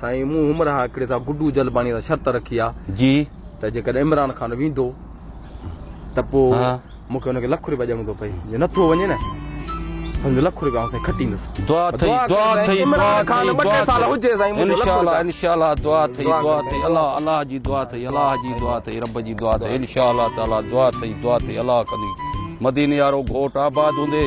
سائين مون همراهه هڪڙي سان گڊو جلباڻي سان شرط رکي آ جي ته جيڪڏهن عمران خان ويندو ته پو مون کي ان کي لک روپيا ڏيڻو ٿو پئي جي نٿو وڃي نه سمجھو لک روپيا آن سائين کٽيندس دعا ٿئي دعا ٿئي عمران خان ٻه ٽي سال هجي سائين مون کي لک روپيا ان شاء الله دعا ٿئي دعا ٿئي الله الله جي دعا ٿئي الله جي دعا ٿئي رب جي دعا ٿئي ان شاء الله تعالي دعا ٿئي دعا ٿئي الله ڪندي مديني يارو گهوٽ آباد هوندي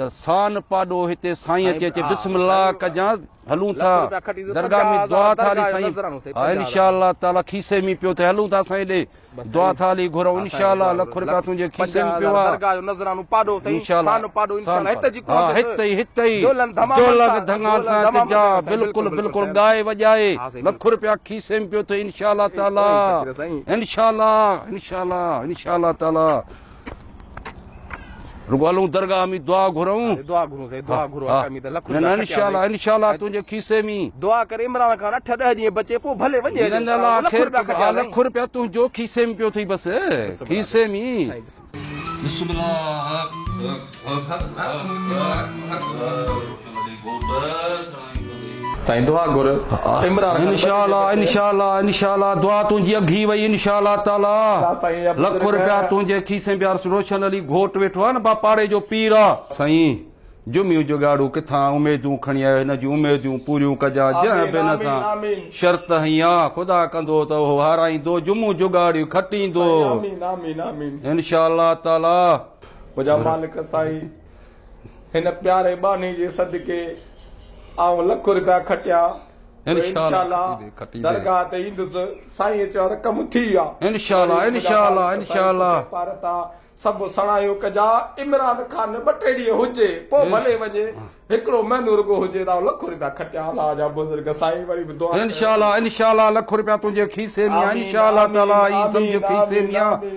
ته سان پاڏو هتي سائين اچي چي بسم الله ڪجان هلون ٿا درگاهه ۾ دعا ٿالي سائين ها انشاء الله تعالي کيسي ۾ پيو ته هلون ٿا سائين ڏي دعا ٿالي گهرئون انشاء الله لک رپيا تنهنجي کيسي ۾ پيو آ درگاهه جو نذرانو پاڏو سائين سان پاڏو انشاء الله هت جي ڪوهه هت ئي هت ئي جولن ڌمامن سان ته جا بلڪل بلڪل ڳائي وڄائي لک رپيا کيسي ۾ پيو ته انشاء الله تعالي انشاء الله انشاء الله انشاء الله تعالي رڳو هلون درگاهه ۾ دعا گهرون دعا گهرون سائين دعا گهرو آقا مين ته لک نه نه انشاءالله انشاءالله تنهنجي کيسي ۾ دعا ڪري عمران خان 8 10 ڏينهن بچي پوء ڀلي وڃي نه نه لا خير لک روپيا تنهنجو کيسي ۾ پيو ٿي بس کيسي ۾ بسم الله سائيندوها گر عمران خان انشاء الله انشاء الله انشاء الله دعا تنهنجي اگهي وئي انشاء الله تعالي لک روپيا تنهنجي کيسي بيارس روشن علي گهوٽ ويٺو آ نه با پاڙي جو پير آ. سائين جمعي جوڳاڙو ڪٿان اميدون کڻي آيو هن جون اميدون پوريون ڪجان جنهن به هن سان شرط هنئي آ خدا ڪندو ته اهو هارائيندو جمعو جوڳاڙي کٽيندو انشاء الله تعالي. هن پياري ٻانهي جي صدقي آئون لک روپيا کٽيا جو انشاءالله درگاهه تي ايندس سائين چيو ته ڪم ٿي ويا انشاءالله انشاءالله انشاءالله پارتا سڀ سڻايون ڪجا عمران خان ٻه ٽي ڏينهن هجي پوء ڀلي وڃي هڪڙو مهينو رڳو هجي ته لک روپيا کٽيا الله جا بزرگ سائين وري به دعا انشاءالله انشاءالله لک روپيا تنهنجي کيسي ۾ انشاءالله تعالي سمجهه کيسي ۾